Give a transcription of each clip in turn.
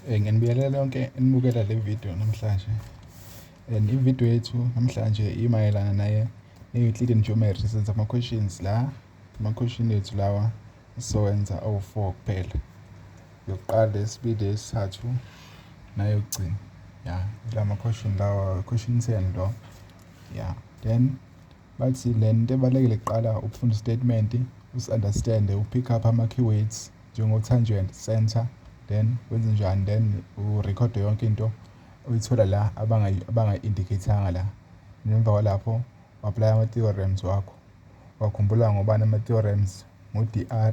Eh, nginibiyelele yonke enibukela le video namhlanje and ivideo yethu namhlanje imayelana naye ne-euclidean geometry senza ama-questions la ama-question ethu lawa sizowenza awu-four kuphela yokuqala esibili esithathu nayokugcina ya la ma-question lawa question ten lo ya then Bathi le nto ebalulekile kuqala ukufunda statement usi-understande u-pick up ama-keywords njengo-tangent center then wenze njani then urekhode yonke into uyithola la abangayi-indicathanga la nemva kwalapho u-aplaya ama-theorems wakho wakhumbula ngobani ama-theorems ngu-dr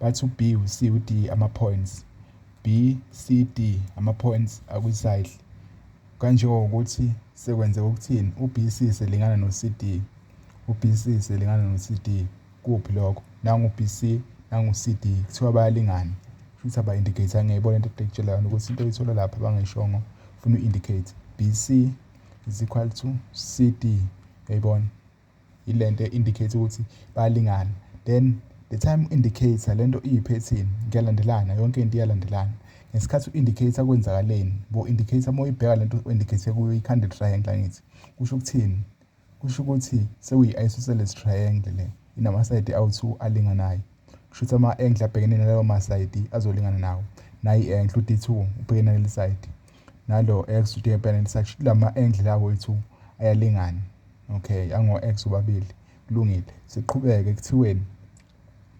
Bathi u-B, u-C, u-D ama-points. B, C, D ama-points akwi-cycle. Kanjengokuthi sekwenzeka ukuthini? U-BC selingana no-CD. U-BC selingana no-CD. Kuphi lokho? Nangu-BC, nangu-CD. Kuthiwa bayalingana. Futhi aba-indicate angiyibona into ekutshela yona ukuthi into oyithola lapha bangayishongo funa u-indicate. BC is equal to CD. Uyayibona? ilento indicate ukuthi bayalingana then the time indicator lento iyiphethini kuyalandelana yonke into iyalandelana ngesikhathi u-indicator kwenzakaleni bo indicator uma uyibheka lento u-indicator kuyo ikhanda triangle angithi kusho ukuthini kusho ukuthi sekuyi-isosceles triangle le inamasayidi awu-two alinganayo kusho ukuthi ama-angle abhekene nalawo masayidi azolingana nawo nayi i-angle u-d two ubhekene naleli sayidi nalo x uthi empeleni sathi lama angle la wethu ayalingana okay ango x obabili kulungile siqhubeke kuthiweni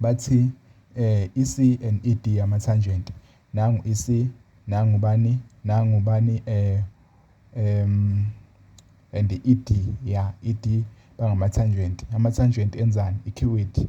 bathi eh ic and ed ama tangent nangu ic nangu bani nangu bani eh um and ed ya ed bangama tangent ama tangent enzani icuity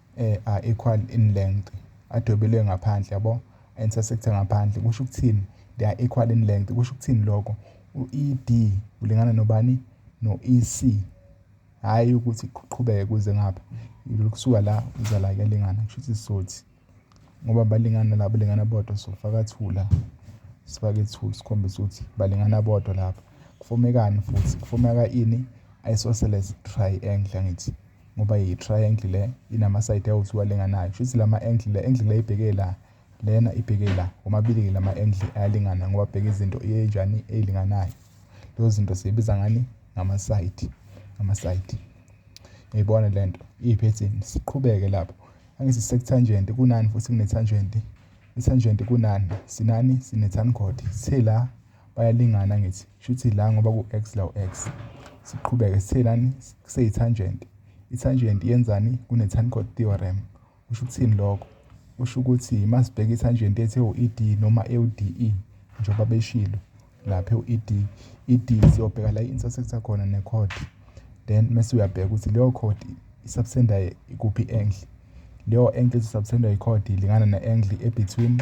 eh, are equal in length adwebelwe ngaphandle yabo intersect ngaphandle kusho ukuthini they are equal in length kusho ukuthini lokho u-ed ulingana nobani no-ec hhayi ukuthi kuqhubeke kuze ngapha kusuka la uza la kuyalingana kusho ukuthi sizothi ngoba balingana la balingana bodwa sofaka thula sifake ithuli sikhombisa ukuthi balingana bodwa lapha kufomekani futhi kufomeka ini isosceles triangle angithi ngoba yi-triangle le inama-side awu-two alinganayo shuthi lama-angle le angle le ibheke la lena ibheke la womabili-ke lama-angle ayalingana ngoba bheka izinto enjani ey'linganayo lezo zinto siyibiza ngani ngama-side ngama-side ngiyibona le nto iyiphethini siqhubeke lapho angithi sekuthangent kunani futhi kunethangent ithangent kunani sinani sinethangoti sithe la bayalingana ngithi shuthi la ngoba ku-x la u-x siqhubeke sithe lani kuseyi-tangent i-tangent yenzani kune-tancord theorem kusho ukuthini lokho kusho ukuthi masibheka i-tangent ethi ewu-ed noma ewu-de njengoba beshilo lapha ewu-ed ed siyobheka la i-intersect khona ne-code then mese uyabheka ukuthi leyo code isubtenda ikuphi engle leyo engle esisubtenda ikhodi ilingana ne-engle ebetween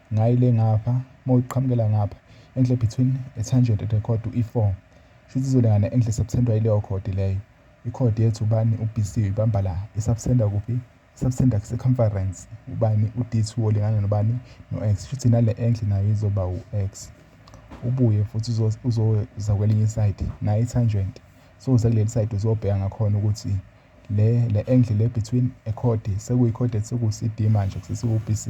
Ngayi le ngapha mawuqhamukela ngapha enhle between a tangent and a chord u E4 shuthi izolingana enhle subtendwa ileyo chord leyo ichord yethu ubani uBC ibamba la isubtenda kuphi isubtenda ku circumference ubani uD2 olingana nobani noX shuthi nale enhle nayo izoba uX ubuye futhi uzoza kwelinye isayidi nayi tangent so uze kuleli sayidi uzobheka ngakhona ukuthi le le enhle le between a chord sekuyi chord ethi ku CD manje kusesiwu BC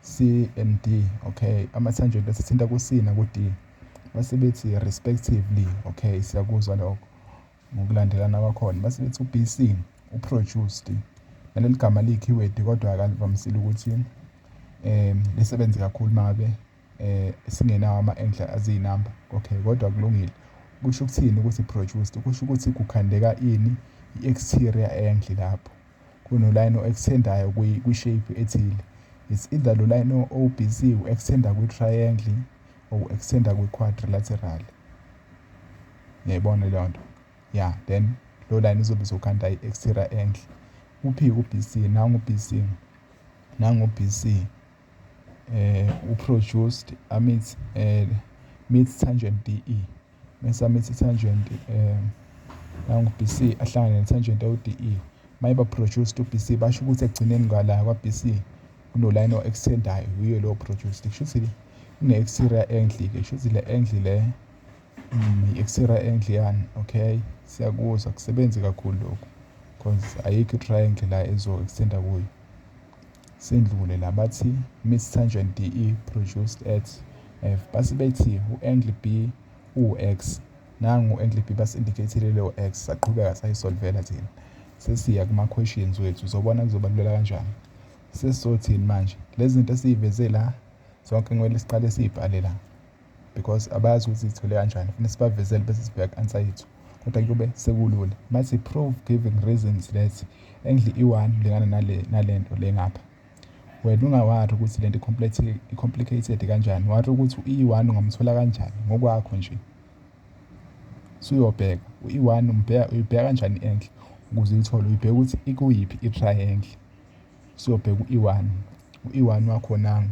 CMD, okay, amathanjeni asithinta ku-C naku-D base bethi respectively, okay, siyakuzwa lokho ngokulandelana kwakhona, base bethi u-BC uproduced, naleli gama liyi-keyword kodwa akalivamisile ukuthi um lisebenze kakhulu uma ngabe um singenawo ama-endla aziyinamba, okay, kodwa kulungile. Kusho ukuthini ukuthi produced? Kusho ukuthi kukhandeka ini i-exterior endle lapho. kunolayini o-extendayo kwi-shape ethile it's either lo layini o-BC u-extenda kwi-triangle or u-extenda kwi-quadrilateral ngiyayibona leyo nto ya then lo layini izobe izokhanda i-exterior angle uphi u-BC nangu-BC nangu-BC U-produced amidst midst Tangent DE. Mese amidst Tangent nangu-BC ahlangane neTangent ewu-DE. Uma eba-produced u-BC basho ukuthi ekugcineni ngala kwa-BC kunolayini o-extend-ayo, yiyo leyo produced. Kusho ukuthi kune-exterior angle-ke, kusho ukuthi le angle le mm, i-exterior angle yani, okay? Siyakuzwa, kusebenzi kakhulu lokhu because ayikho i-triangle la ezo-extend-a kuyo. Sendlule nabathi Miss Tangent DE produced at F base bethi u-angle B uwu-X. Nangu u-angle B basi-indicate-ile leyo X saqhubeka sayisolvela thina. Sesiya kuma-questions wethu zobona kuzobaluleka kanjani. Sesizothini manje? Lezi zinto esiyiveze la zonke kumele siqale siyibhale la. because abazi ukuthi zithole kanjani funa sibavezele bese sibheka answer yethu kodwa kube sekulula mathi prove giving reasons that endli i-one lingana nale nalento le ngapha wena ungawari ukuthi lento i-complicated kanjani wari ukuthi i-one ungamthola kanjani ngokwakho nje suyobheka i-one uyibheka kanjani enhle ukuze uyithole uyibheka ukuthi ikuyiphi i-triangle siyobheka u-e-one u-e-one wakhonanga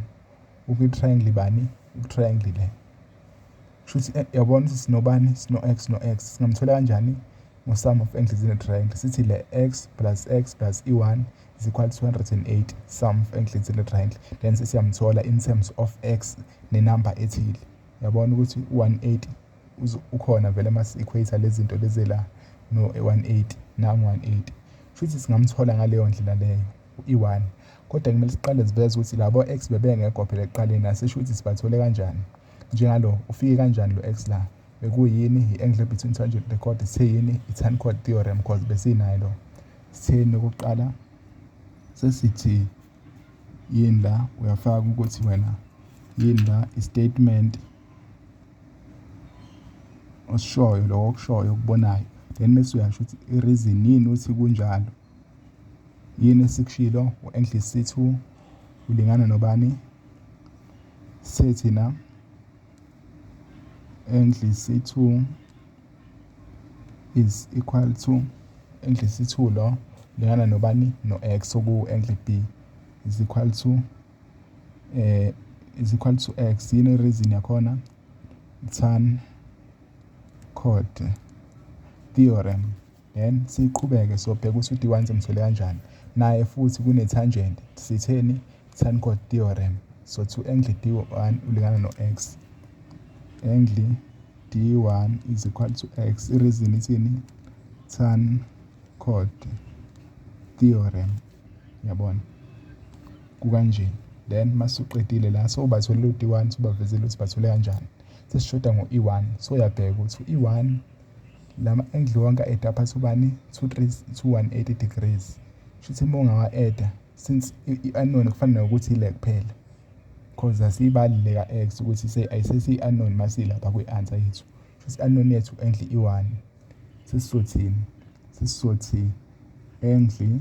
ukwi-triangle bani ukwi-triangle le shuthi eh, yabona ukuthi sinobani sino-x no-x singamthola kanjani ngo-sum of angles in a triangle sithi le x plus x plus e1 is equal to 208 sum of angles in a triangle then sesiyamthola in terms of x nenumber ethile yabona ukuthi u-180 ukhona vele ama-equator lezinto lezi la no-180 nangu-180 shuthi singamthola ngaleyo ndlela leyo i-1 kodwa kumele siqale siveze ukuthi labo ex bebengekho phela ekuqaleni asisho ukuthi sibathole kanjani njengalo ufike kanjani lo ex la bekuyini i-angle between tangent the chord sithe yini i-tan chord theorem cause besinayo lo sitheni okokuqala sesithi yini la uyafaka ukuthi wena yini la i-statement osishoyo lokho okushoyo okubonayo then bese uyasho ukuthi i-reason yini ukuthi kunjalo yini esikushilo u-english sithu ulingana nobani sithe thina english sithu is equal to english sithu lo lingana nobani no-x oku-english b is equal to eh is equal to x yini reason yakhona tan code theorem Then siqhubeke sobheka ukuthi uDiwan simthole kanjani. Naye futhi kunethanjenti. Sitheni? Tanquart theorem. So to angle D1 ulingana no-x. Angle D1 is equal to x. Ireason ithini? Tanquart theorem. Yabona? Kukanje. Then masuqedile la so ubatholile u-D1 sobavezile ukuthi bathole kanjani. Sesishoda ngo-E1 so uyabheka ukuthi u-E1 lama angle wonke aeda phansi ubani 218 degrees shuthi uma ungawa-eda since i-anon kufanele ukuthi ile kuphela cause asiyibali le ka-x ukuthi ayisesiyi-anon masilapha kwi-answer yethu shuthi i-anon yethu enhle i-one sesizothini sesizothi enhle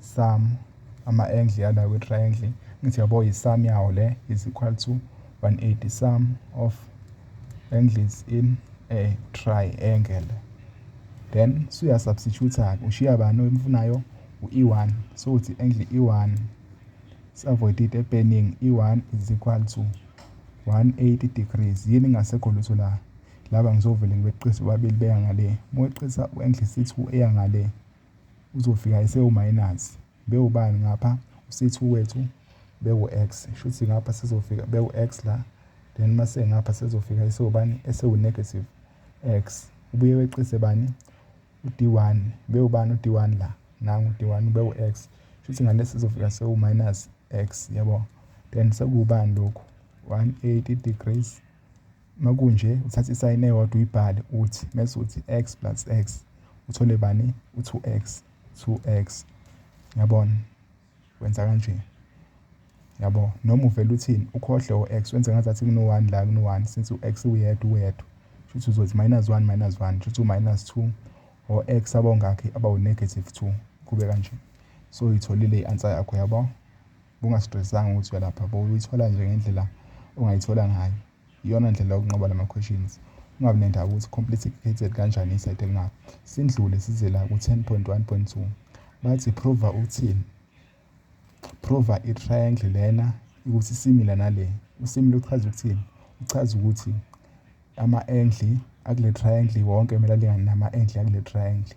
Sum, ama-angle yala kwi-triangle, ngithi yabo yi-sum yawo le is equal to 180 sum of angles in a triangle. Then suyasubstitute-ke, ushiya bani oyimfunayo? U-E one, so uthi angle E one si-avoid into epeningi, E one is equal to 180 degrees. Yini ngasekho lutho la? Laba ngizovele ngibeqise bobabili beya ngale, uma weqisa u-angle C two eya ngale. Uzofika esewu minus bewubani ngapha usithi uwethu bewu-x shuthi ngapha sizofika bewu-x la then mase ngapha sizofika esewubani esewu-negative x ubuye weqise bani u-d1 bewubani u-d1 la nangu u-d1 bewu-x shuthi ngale sizofika sewu-minus x yabo then sekuwubani lokhu 180 degrees Makunje uthatha isayini eyodwa uyibhale uthi mese uthi x plus x uthole bani u-2x 2x yabona wenza kanje yabo noma uvele uthini ukhohle o-x wenze ngazathi kuno-one la kuno-one since u-x uyedwa uwedwa shuthi uzothi minus one minus one shuthi u-minus two or x abawungakhi abawu-negative two kube kanje so uyitholile i-answer yakho yabo Bungastressanga ukuthi uyalapha bo uyithola nje ngendlela ongayithola ngayo. Iyona ndlela yokunqoba lama questions. Ungabi nendaba ukuthi complicated kanjani isayithe lingabo. Sindlule size la ku 10.1.2. Bathi prova uthini? Prova i triangle lena ukuthi similar nale. Usimile uchaza ukuthini? Uchaza ukuthi ama angle akule triangle wonke kumele alingane nama angle akule triangle.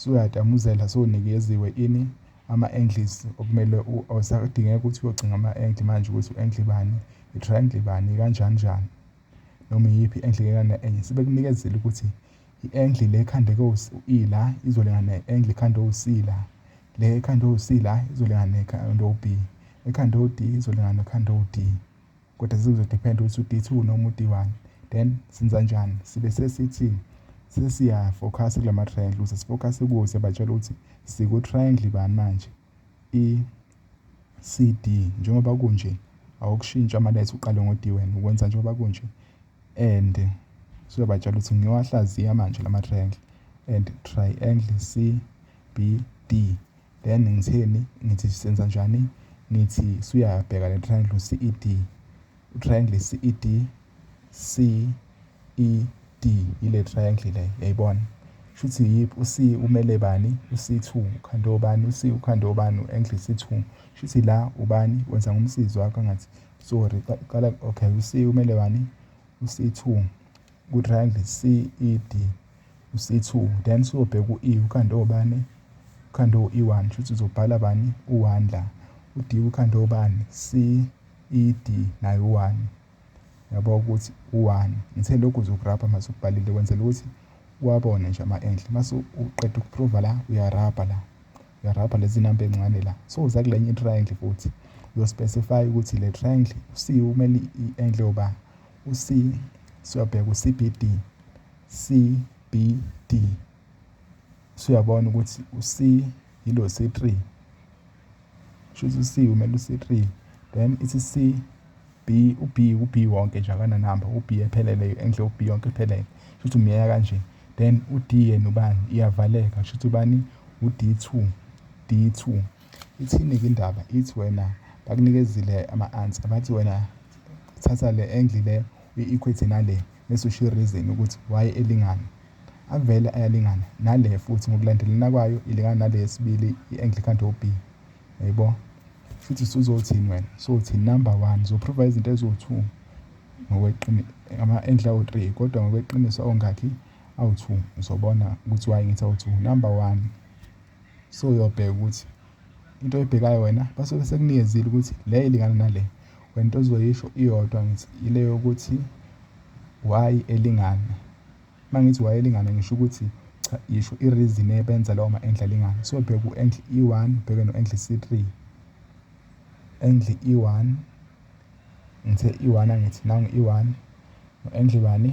Suyatamuzela sunikeziwe ini ama angles okumele awusadingeka ukuthi uyogcinga ama angle manje ukuthi u angle bani i triangle bani kanjani njani noma iyiphi angle ngekana enye sebekunikezile ukuthi i angle le ekhanda ko i la izolingana ne angle ekhanda o c la le ekhanda o c la izolingana ne ekhanda o b ekhanda o d izolingana ne ekhanda o d kodwa sekuzodephenda ukuthi u-D two noma u-D one then senza njani sibe sesithi sesiyafokhasa kula ma-triangle ukuze sifokhase kuwo siyabatshela ukuthi siku-triangle bani manje i-c d njengoba kunje awukushintsha amaletha uqale ngo-d wena ukwenza njengoba kunje and siyobatshela ukuthi ngiyowahlaziya manje la ma-triangle and triangle c b d Then ngitheni ngithi senza njani ngithi suyabheka le triangle CED triangle CED CED ile triangle le yayibona shuthi yiphi uC umele bani uC2 ukhande obani uC ukhande obani u-angle C2 shuthi la ubani wenza ngomsizi wakho angathi sorry qala okay uC umele bani uC2 Ku-triangle CED, u-C2, then siyobheka u-E, ukhande obani? Ukhande u-E1, shuthi uzobhala bani? U-1 la. U-D ukhande obani? CED, naye u-1. Yabo ukuthi u-1. Ngithe lokhu uzokurabha mase ukubhalile kwenzela ukuthi uwabone nje ama-enhle. Mase uqeda ukuprova la, uyarabha la. Uyarabha lezi namba ey'ncane la. So uza kule enye i-triangle futhi. Uyospecify ukuthi le triangle, u-C umele i-enhle yoba U-C siyobheka u-CBD. CBD. Suyabona ukuthi u-C yilo C3. Shuthi u-C umele u-C3. Then ithi C B u-B u-B wonke nje akananamba u-B ephelele enhle u-B yonke ephelele. Shuthi umyeka kanje. Then u-D yena ubani? Iyavaleka. Shuthi ubani? U-D2. D2. Ithini-ke indaba ithi wena bakunikezile ama-answer bathi wena thatha le angle le uyi-equate nale bese ushiye reason ukuthi why elingana avele ayalingana nale futhi ngokulandelana kwayo ilingana nale yesibili i-angle ekhanda o-b yaybo futhi usuzothini wena sothi number one uzoprova izinto eziwu-two ama-angle awu-three kodwa ngokweqiniso awungakhi awu-two uzobona ukuthi why ngithi awu-two number one So uyobheka ukuthi into oyibhekayo wena basuke sekunikezile ukuthi le ilingana nale wena into ozoyisho iyodwa ngithi ile yokuthi why elingana uma ngithi why elingana ngisho ukuthi cha yisho i-reason ebenza lawo ma-endle alingana so bheka u-endle e-one ubheke no-endle c-three endle e-one ngithe e-one angithi nangu e-one no-endle bani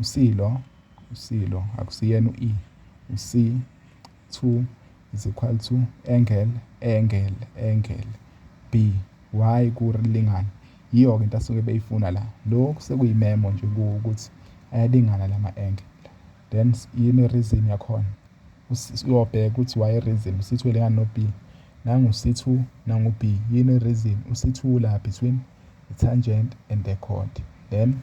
USilo, uSilo, akusiyena u-E, uSi, thu, is equal to engel, engel, engel, B, Y kulingana. Yiyo-ke into asuke beyifuna la. Lokhu sekuyimemo nje kuwo ukuthi ayalingana la ma-engel. Then yini i-reason yakhona? Uyobheka ukuthi why i-reason, usithi welingana no-B. Nangu-C2, nangu-B. Yini i-reason? U-C2 la between i-tangent and the chord. Then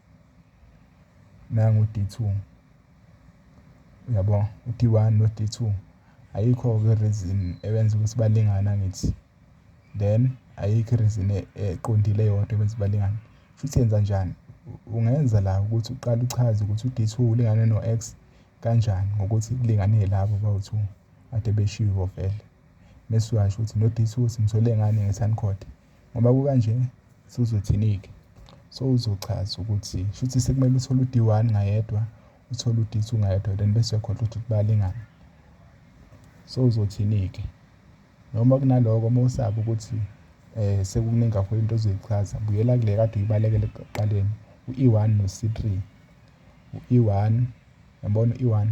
Nangu u-D two, uyabo u-D one no-D two ayikho-ke i-reason ebenza ukuthi balingane angithi. Then ayikho i-reason eqondile eyodwa ebenza ukuthi balingane. Shuthi yenzanjani? Ungenza la ukuthi uqale uchaze ukuthi u-D two ulingane no-X kanjani ngokuthi kulingane labo bawu-two ade beshiwo vele. Mese uyasho ukuthi no-D two simthole ngani nge-sign code. Ngoba kukanje suzothinike so uzochaza ukuthi shuthi sekumele uthole u-D one ngayedwa uthole u-D two ngayedwa then bese uyakhohlwa ukuthi balingane so uzothinike noma kunaloko uma usaba ukuthi um sekuningi kakhulu into ozoyichaza buyela kule kade uyibalekele ekuqaleni u-e one no-c three u-e one yabona u-e one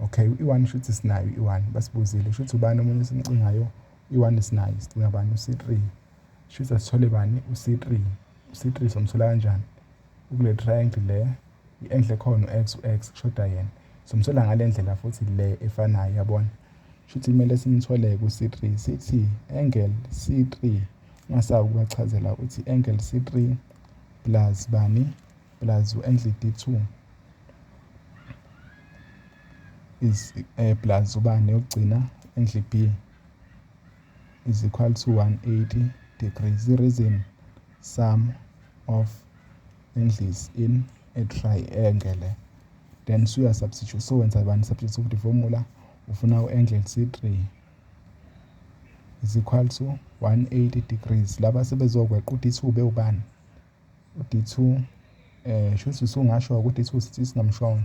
Okay, i-one shuthi sinayo i-one basibuzile shuthi ubani omunye esimcingayo i-one sinayo sicinga bani u-c three shuthi asithole bani u-c three u-c three somthola kanjani ukule triangle le i-enhle khona u-x u-x kushoda yena somthola ngale ndlela futhi le efanayo yabona shuthi kumele simthole ku-c three sithi angle c three ungasabi ukubachazela ukuthi angle c three plus bani plus uNdlidi 2 is eh, plus ubani yokugcina uNdli B is equal to 180 degrees the reason sum of angles in a triangle then suya substitute so wenza abantu substitute ukuthi formula ufuna u-angle C3 is equal to 180 degrees laba sebezokweqa ukuthi 2 bewubani U-D2 shuthi usungasho ukuthi u-D2 sithi singamshongo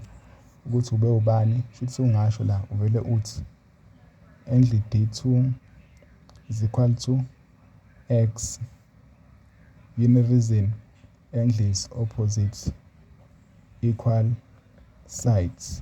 ukuthi ube ubani, shuthi sungasho la uvele uthi endli D2 is equal to X. Yini reason? Endli is opposite equal sides.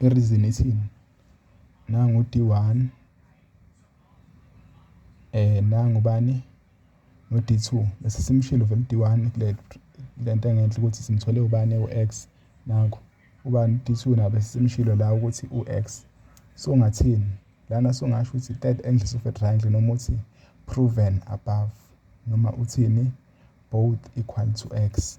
i-reason ithini nangu u-D one nangu ubani no-D two bese simshilo vele u-D one kule nto engenhla ukuthi simthole ubani ewu-X nangu ubani u-D two naye bese simshilo la ukuthi u-X. So ngathini lana songasho ukuthi third angles of a triangle noma uthi proven above noma uthini both equal to X.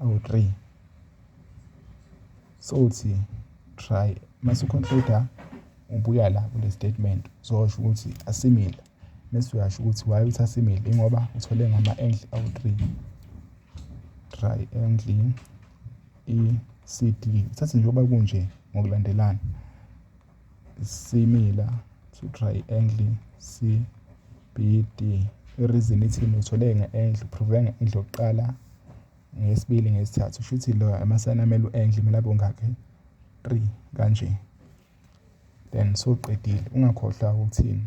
awu-3 sowuthi try mase uconcluda ubuya la kule statement uzosho ukuthi asimile mese uyasho ukuthi why uthi asimile ingoba uthole ngama-angle awu-3 triangle i-cd uthathe njengoba kunje ngokulandelana Similar to triangle CBD. I-reason ithini uthole nge-angle, uphruve nge-angle yokuqala, ngesibili, ngesithathu. Kusho ukuthi lo amasayini amele u-angle kumele abe ongakhi? Three kanje. Then soqedile, ungakhohlwa ukuthini?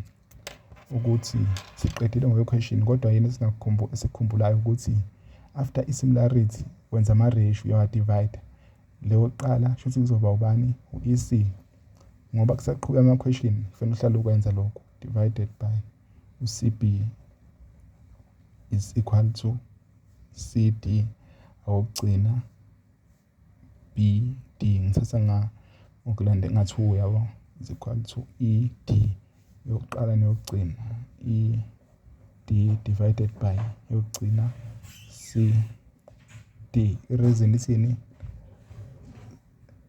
Ukuthi siqedile ngokwe-question kodwa yini esikhumbulayo ukuthi after i-similarity wenza ama-ratio uyawa-divide. Le yokuqala shuthi kuzoba ubani? U-E_C. Ngoba kusaqhuba amakhweshini kufanele uhlale ukwenza lokhu. Divided by u-C_B is equal to C_D awokugcina B_D ngithatha nga ngokulanda ngathi uyabo is equal to E_D. yokuqala neyokugcina i-d divided by yokugcina c d ireason ithini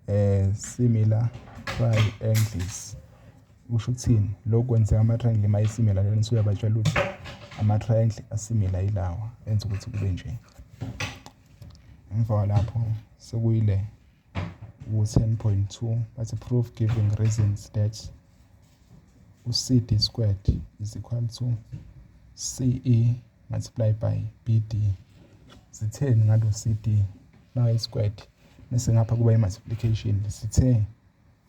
eh similar triangles usho ukuthini lokhu kwenzeka ama-triangle uma esimila lena usuyabatshela ukuthi ama-triangle asimila yilawa enza ukuthi kube nje emva kwalapho sekuyile u-10.2 bathi proof giving reasons that u-CD squared is equal to CE multiply by BD sitheni ngalo CD nayi squared bese ngapha kuba i-multiplication sithe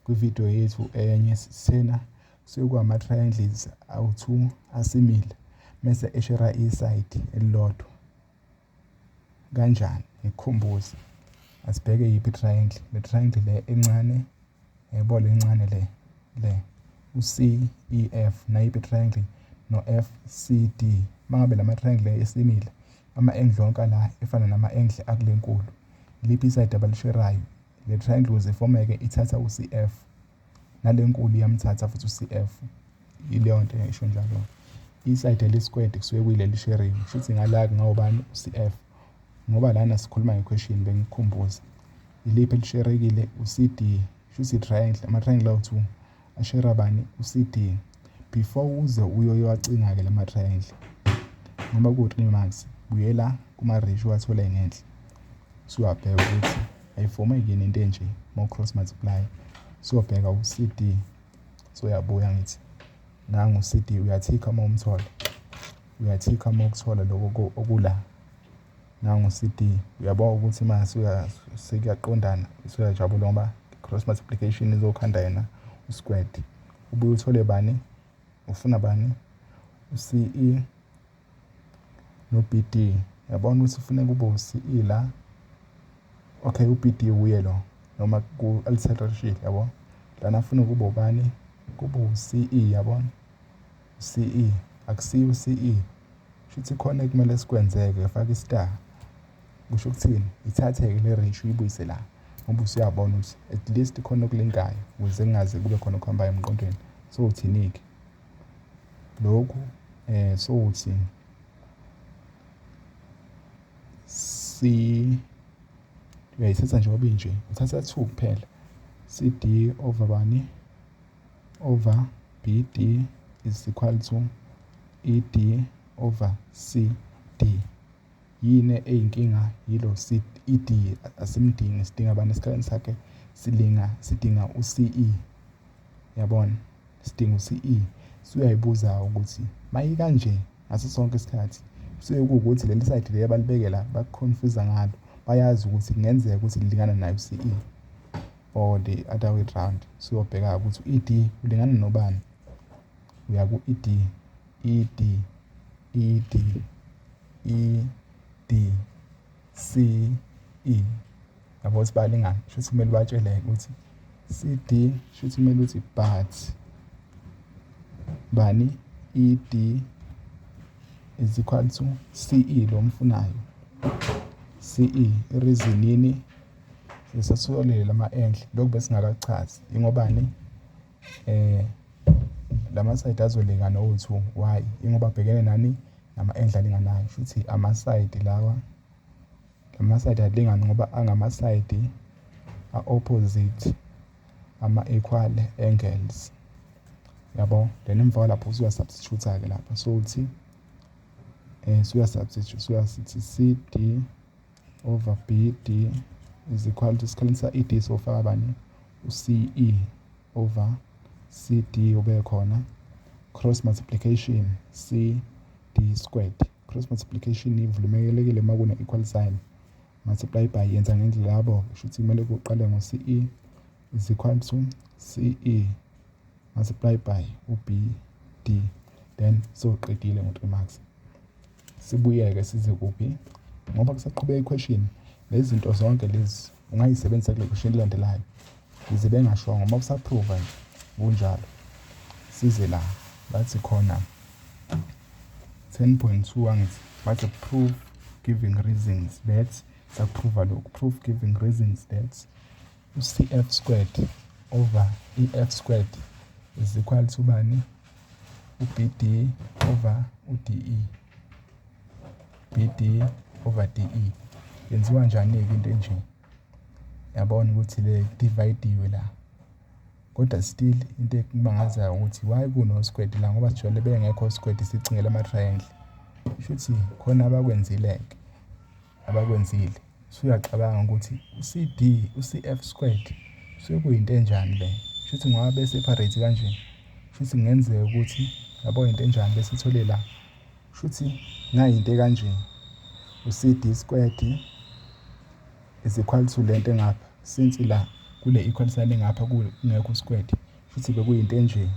kwividiyo yethu enye sithena kusuke kuwama-triangles awu-two asimile mese eshera isayidi elilodwa Kanjani? Ngikukhumbuze. Asibheke yiphi triangle. Le triangle le encane, yebo le encane le, le. U-C, E-F, nayiphi triangle? No-F, C, D. Uma ngabe lama triangle esimile, ama-angle onke la efana nama-angle akule nkulu. Liphi isayidi abalisherayo? Le triangle ukuze ifomeke ithatha u-C-F. nalenkulu iyamthatha futhi uCF ileyonto esho njalo isayidi elisikwede kusuke kuyileli sharing shuthi ngala kungawubani uCF ngoba lana sikhuluma ngequestion bengikhumbuza iliphi elisherekile uCD shuthi triangle ama-triangle awu-2 ashera bani uCD before uze uyoyowacinga-ke la ma-triangle ngoba ku-three months buyela kuma-ratio uwathole ngenhla Suyabheka ukuthi ayifomeki yini into enje mo-cross multiply. Suyobheka u-CD. Soyabuya ngithi nangu u-CD uyathikha uma umthola. Uyathikha uma ukuthola lokho okula. Nangu u-CD uyabona ukuthi uma sekuyaqondana usuyajabula ngoba cross multiplication izokhanda yena u-squared. Ubuye uthole bani? Ufuna bani? U-CE no-BD yabona ukuthi kufuneka ube u-CE la okay u-BD wuye lo noma ku-alternate sheet yabo lana afuna ukuba ubani kube u-CE yabona u-CE akusiyo u-CE shuthi khona ekumele sikwenzeke faka i-star kusho ukuthini ithathe-ke le range uyibuyise la ngoba usuyabona ukuthi at least khona okulinkayo ukuze kungaze kube khona okuhambayo emqondweni so uthini-ke Lokhu eh sothi si uyayithatha nje ngoba inje uthatha 2 kuphela CD over bani over BD is equal to ED over CD Yini eyinkinga yilo C-E-D asimdingi sidinga abantu esikhaleni sakhe silinga sidinga u-C_E yabona? Sidinga u-C_E suyayibuza ukuthi mayikanje ngaso sonke isikhathi kusuke kuwukuthi leli sayidi leli abalibeke la baku-confuse-a ngalo bayazi ukuthi kungenzeka ukuthi lilingana naye u-C_E or the other way round. Suyobheka-ke ukuthi u-E_D ulingana nobani, uya ku-E_D. ED, ED, E, D, C, E. Yabo ukuthi balingane, shuthi kumele ubatshele ukuthi CD shuthi kumele uthi but bani ED is equal to CE lo mfunayo. CE reason yini sesatholile lama enhle lokhu besingakachazi ingobani eh lamasayidi azoleka nowethu why ingoba abhekene nani nama-endla alinganayo shuthi amasayidi lawa lamasayidi alingani ngoba angamasayidi a-opposite ama-equal angles yabo then emva kwalapho usuya-substitute-ke lapha so uthi um eh, suya-substitute suya sithi c d over BD is equal to sikhalinisa ED sofaka bani uCE over CD ube khona cross multiplication CD squared cross multiplication ivulumekelekile uma kune equal sign multiply by yenza ngendlela yabo kusho ukuthi kumele kuqale ngo CE is equal to CE multiply by uBD then soqedile ngo 3 marks Sibuyeke size kuphi? Ngoba kusaqhubeka ikhweshini, lezi zinto zonke lezi ungayisebenzisa kule khweshini elilandelayo. Yize bengashongo, uma usaphruva nje kunjalo. Size la, bathi khona 10.2 angithi, bathi proof giving reasons that sakuphruva lokhu, proof giving reasons that u-cf squared over i-f squared is equal to bani uBD over uDE. BD over DE. Yenziwa njani-ke into enje? Yabona ukuthi le dividiwe la. Kodwa still into ekumangazayo ukuthi why kuno-square la ngoba sijwayele bengekho o-square sicingela ama-triangle. Shuthi khona abakwenzile-ke. abakwenzile usuyacabanga ukuthi uCD uCF squared sekuyinto enjani le shuthi ngoba be separate kanje shuthi kungenzeka ukuthi yabo into enjani bese ithole la shuthi ngayinto kanje uCD squared is equal to lento engapha since la kule equal sign engapha kungekho squared futhi bekuyinto enje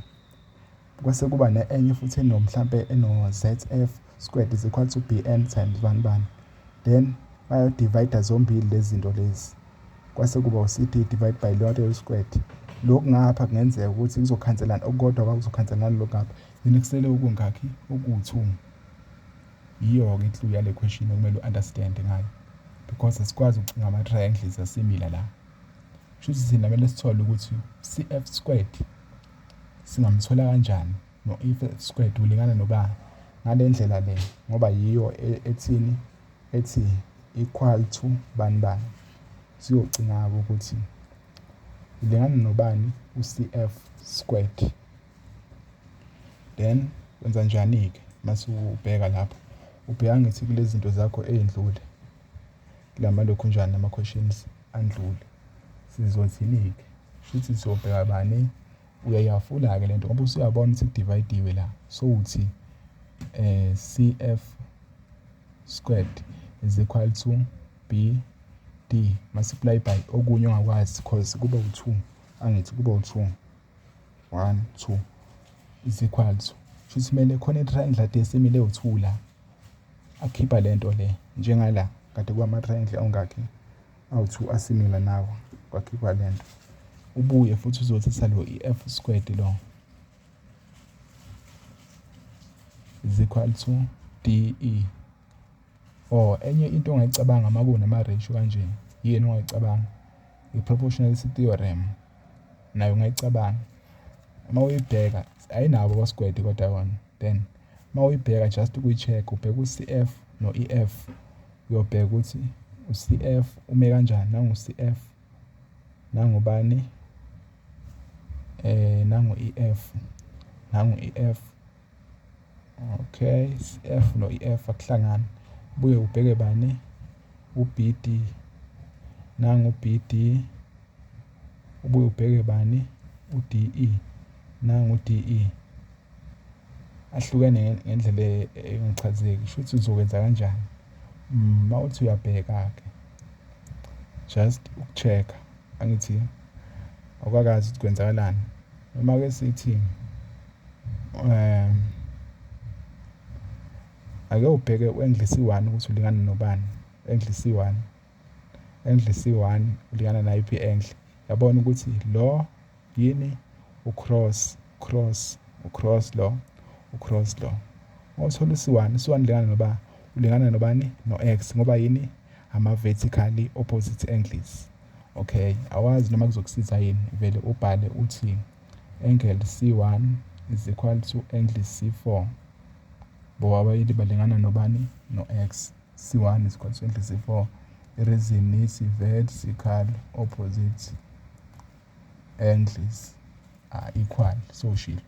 Kwase kuba ne enye futhi eno mhlampe eno-Z_F squared is equal to B_N times bani bani. Then bayo-divide-a zombili lezi zinto lezi. Kwase kuba u-C_D divide by lonke u-squared. Lokhu ngapha kungenzeka ukuthi kuzokhanselana okukodwa kwakuzokhanselana lokhu ngapha. Then kusele okungakhi okuwu-two. Yiyo-ke i-clue yale question okumele u-understand ngayo. Because asikwazi ukucinga ama-triangles asimila la. Shuthi thina kumele sithole ukuthi CF squared Singamthola kanjani no if squared ulingana nobani ngale ndlela le ngoba yiyo e-, ethini ethi equal to bani bani siyogcina-ke ukuthi ulingana nobani u-cf squared then wenza njani-ke mase ubheka lapho ubheka ngithi kule zinto zakho ey'ndlule La malokhunjana ama-questions andlule sizothini-ke shuthi siyobheka bani uyayafula-ke le nto ngoba usuyabona ukuthi kudivayidiwe la sowuthi um eh, cf squared is equal to b d multiply by okunye ongakwazi because kuba u-two angithi kuba u-two one two is equal to shuthi kumele khona i-triangle desimile ewu-two la akhipha lento le njengala kade kwamathrendle ongakhe awu-two asimila nawo kwakhipha lento ubuye futhi uzothi salo i-f squared lo is equal to de or enye into ongayicabanga uma kunama-ratio kanje yini ongayicabanga i-proportionality theorem nayo ungayicabanga uma uyibheka ayinabo abasgwede kodwa yona then uma uyibheka just ukuyi-check ubheka u-cf no-ef uyobheka ukuthi u-cf ume kanjani nangu-cf nangubani eh nangu-ef nangu-ef okay cf no-ef akuhlangani buye ubheke bani u-bd nangu-bd ubuye ubheke bani u-de nangu-de ahlukene ngendlela engichazeki sho ukuthi uzokwenza kanjani uma mm, uthi uyabheka-ke just uku-check-a angithi awukakazi ukuthi kwenzakalani noma-ke sithi um ake ubheke u-english one ukuthi ulingana nobani english one english one ulingana nayiphi enhle yabona ukuthi lo Yini? Ucross, cross, ucross lo, ucross lo. Mawuthola usiwani, usiwani lingana noba ulingana nobani no-x ngoba yini ama-vertically opposite angles okay awazi noma kuzokusiza yini vele ubhale uthi angle c1 is equal to angle c4 ngoba abayili balingana nobani no-x c1 is equal to angle c4 ireason is vertical opposite Endless are equal soshilo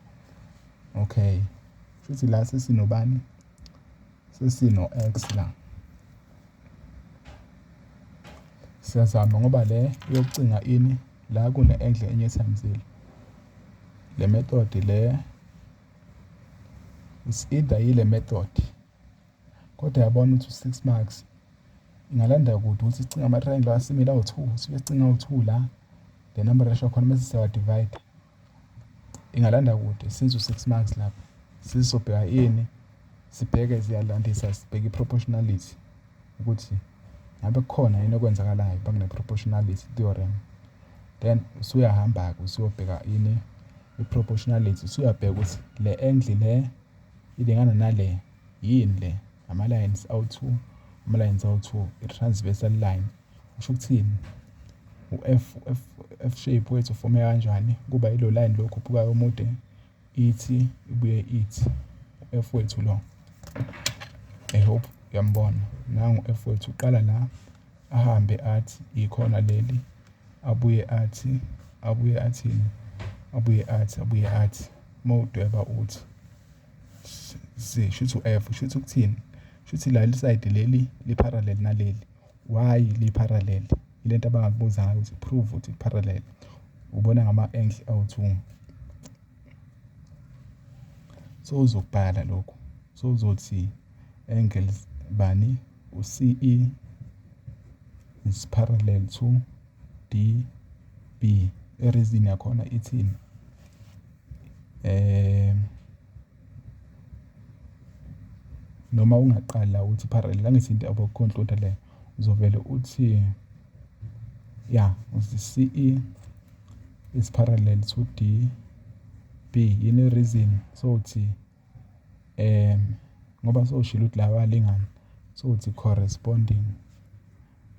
okay shuthi la sesinobani sesino x la siyazama ngoba le yokucinga ini la kune endle enye ethamzile le method le is either yile method Kodwa yabona ukuthi u-six marks ingalanda kude ukuthi sicinga ama-triangle asimile awu-two sifike sicinga awu-two la the number ratio khona mese siyawa-divide ingalanda kude since u-six marks lapho sizobheka ini sibheke ziyalandisa sibheke i-proportionality ukuthi ngabe kukhona yini okwenzakalayo bakune-proportionality theorem then usuyahamba-ke usuyobheka ini i-proportionality usuyabheka ukuthi le angle le ilingana nale Yini le? Ama-lines awu-two, ama-lines awu-two, i-transversal line. Kusho ukuthini? U-F, F, F shape wethu ufome kanjani? Kuba yilo line lo okhuphukayo omude, ithi ibuye ithi. U-F wethu lo. I hope uyambona. Nangu u-F wethu uqala la, ahambe athi ikhona leli, abuye athi, abuye athini? Abuye athi, abuye athi. Uma udweba uthi. si shuthi u-F shuthi ukuthini shuthi la lisayidi leli li-parallel naleli why li-parallel ilento abangakubuza ngayo ukuthi prove ukuthi parallel ubona ngama-angle awu-two so uzokubhala lokhu so uzothi angles bani u-ce is parallel to db erizini yakhona ithini Noma ungaqali la uthi parallel, angithi into yabo computer le, uzovele uthi, ya uthi C_E is parallel to D_B, yini i-reason? Sowuthi. ngoba sewushilo ukuthi laba balingani sewuthi corresponding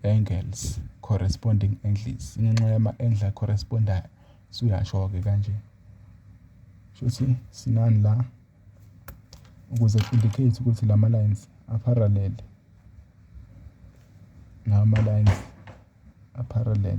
angles, corresponding angles. Ingenxa yama-angle a-correspond-ayo usuyasho-ke kanje. Shuthi sinani la ukuze ku-indicate ukuthi lama-lines a-parallel. Lawa ma-lines a-parallel.